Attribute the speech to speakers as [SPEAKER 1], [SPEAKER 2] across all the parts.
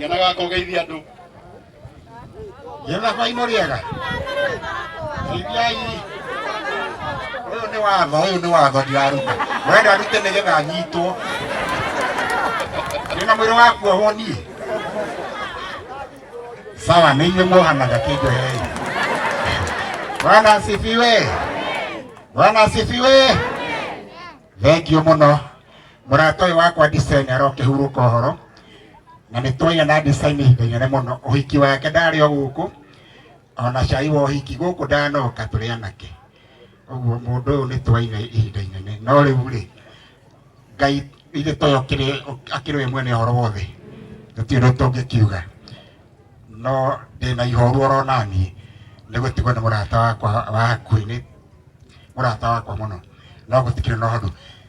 [SPEAKER 1] Yana gaka ũgeithia andũ.
[SPEAKER 2] Yana baino rĩega. Teithiai. Ũyũ nĩ watho, ũyũ nĩ watho ndiraruta. Wenda arute nĩgetha anyitwo. Ndĩna mwĩrĩ wa kuohwo niĩ. Sawa, nĩ inyuĩ muohanaga kĩnjohei. Bwana asifiwe. Bwana asifiwe. Thank you mũno. mũrata ũyũ wakwa design arokĩhurũka ũhoro na nĩ twaia na design ihinda inene mũno ũhiki wake ndarĩ o gũkũ ona cai wa ũhiki gũkũ ndanoka tũrĩ anake ũguo mũndũ ũyũ nĩ twaina ihinda inene no rĩu rĩ ngai ithe toyo akĩrĩ we mwene ũhoro wothe gũtirĩ ũndũ tũngĩkiuga no ndĩna ihoru oro naniĩ nĩ gũtigwo nĩ mũrata wakwa wa hakuhĩ nĩ mũrata wakwa mũno no gũtikĩrĩ na ũhoro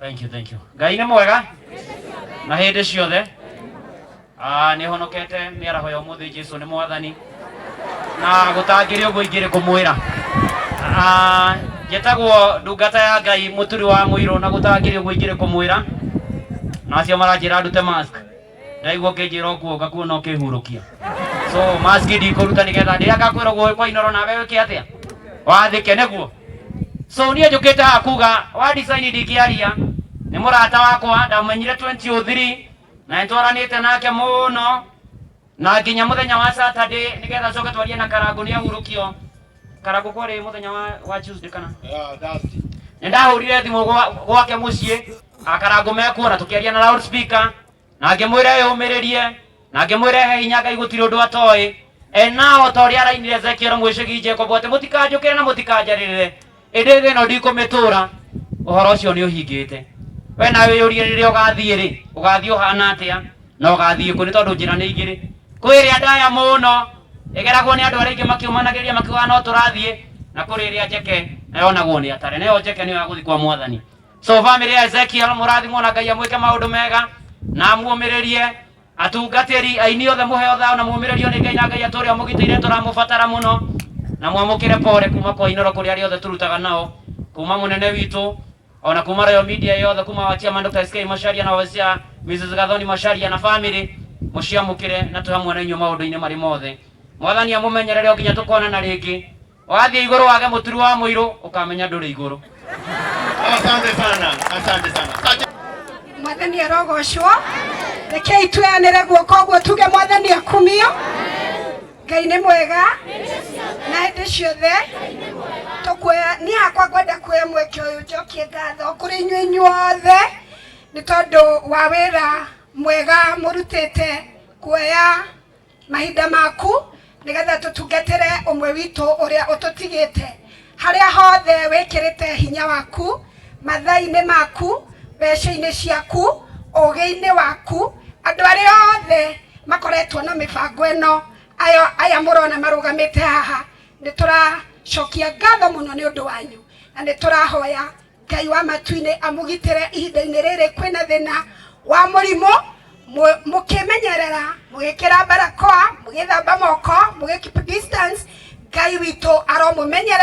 [SPEAKER 1] thank you thank you
[SPEAKER 3] ngai nĩ mwega na hĩndĩ ciothe Ah, nĩ honokete nĩ araho ya ũmũthĩ jesu nĩ mwathani na gũtangĩrĩ ũguo ingĩrĩ kũmwĩra Ah, njĩtagwo ndungata ya ngai mũturi wa mũirũ na gũtangĩrĩ ũguo ingĩrĩ kũmwĩra na acio maranjĩra ndute mask ndaigua ũkĩnjĩra ũkuoka kuona ũkĩhurũkia so maski ndikũruta nĩgetha ndĩrĩa ngakwĩra guoĩ kwa inoro nawe wĩke atĩa wathĩke nĩguo so niĩ njũkĩte haha kuga wa design ndingĩaria nĩ mũrata wakwa ndamenyire 2003 na nĩtwaranĩte nake mũno na nginya mũthenya wa Saturday nĩgetha coke twarie na Karangũ nĩ ahurũkio Karangũ kwarĩ mũthenya wa, wa Tuesday kana Yeah, Dusty.
[SPEAKER 1] nĩ ndahũrire
[SPEAKER 3] thimũ gwa- gwake mũciĩ akarango mekuona tukiaria na loudspeaker na ngimwira eyumiririe na ngimwira ehe hinya ngai gutiri undu atoe enao ta uria arainire ezekiel mwicigi jacob ati mutikanjukire na mutikanjaririre indi thi ino ndikumitura uhoro ucio ni uhingite we nawe yurie riria ugathie ri ugathie uhana atia na ugathie ku ni tondu njira ni igiri kwi iria ndaya muno igeragwo ni andu aria ingi makiumanagiria makiugaga no turathie na kuri iria njeke na yonagwo ni atare nayo njeke niyo ya guthi kwa mwathani so bamĩrĩ ya ezekiel mũrathimwo na ngai amwĩke maũndũ mega na amuũmĩrĩrie atungatĩri aini othe mũheo thao na mũũmĩrĩrio nĩ ngai na ngai atũũre amũgitĩire tũramũbatara mũno na mwamũkĩre pore kuma kwa inoro kũrĩ arĩa othe tũrutaga nao kuma mũnene witũ ona kuma royal media yothe kuma wachia ma Dr. SK Macharia na wachia Mrs. Gathoni Macharia na family mũciamũkĩre na tũhamwe na inyuĩ maũndũ-inĩ marĩ mothe mwathani amũmenyerere o nginya tũkonana rĩngĩ wathiĩ igũrũ wage mũturu wa mũirũ ũkamenya ndũrĩ igũrũ Asante
[SPEAKER 1] sana, asante sana. Asante.
[SPEAKER 4] mwathani arogocwo rekei tweanĩre guoko ũguo tuge mwathani akumio ngai nĩ mwega na hĩndĩ ciothe tũkuoya niĩ hakwa ngwenda kuoya mweke ũyũ njokie ngatho kũrĩ inyuĩ inyuothe nĩ tondũ wa wĩra mwega mũrutĩte kuoya mahinda maku nĩgetha tũtungatĩre ũmwe witũ ũrĩa ũtũtigĩte harĩa hothe wĩkĩrĩte hinya waku mathainĩ maku mbeca-inĩ ciaku ũgĩ-inĩ waku andũ arĩa othe makoretwo na mĩbango ĩno aya aya mũrona marũgamĩte haha nĩtũracokia ngatho mũno nĩ ũndũ wanyu na nĩtũrahoya Ngai wa matuinĩ amũgitĩre ihinda-inĩ rĩrĩ kwĩna thĩna wa mũrimũ, mũkĩmenyerera, mũgĩkĩra mbarakoa, mũgĩthamba moko, mũgĩ keep distance, Ngai witũ aromũmenyerera.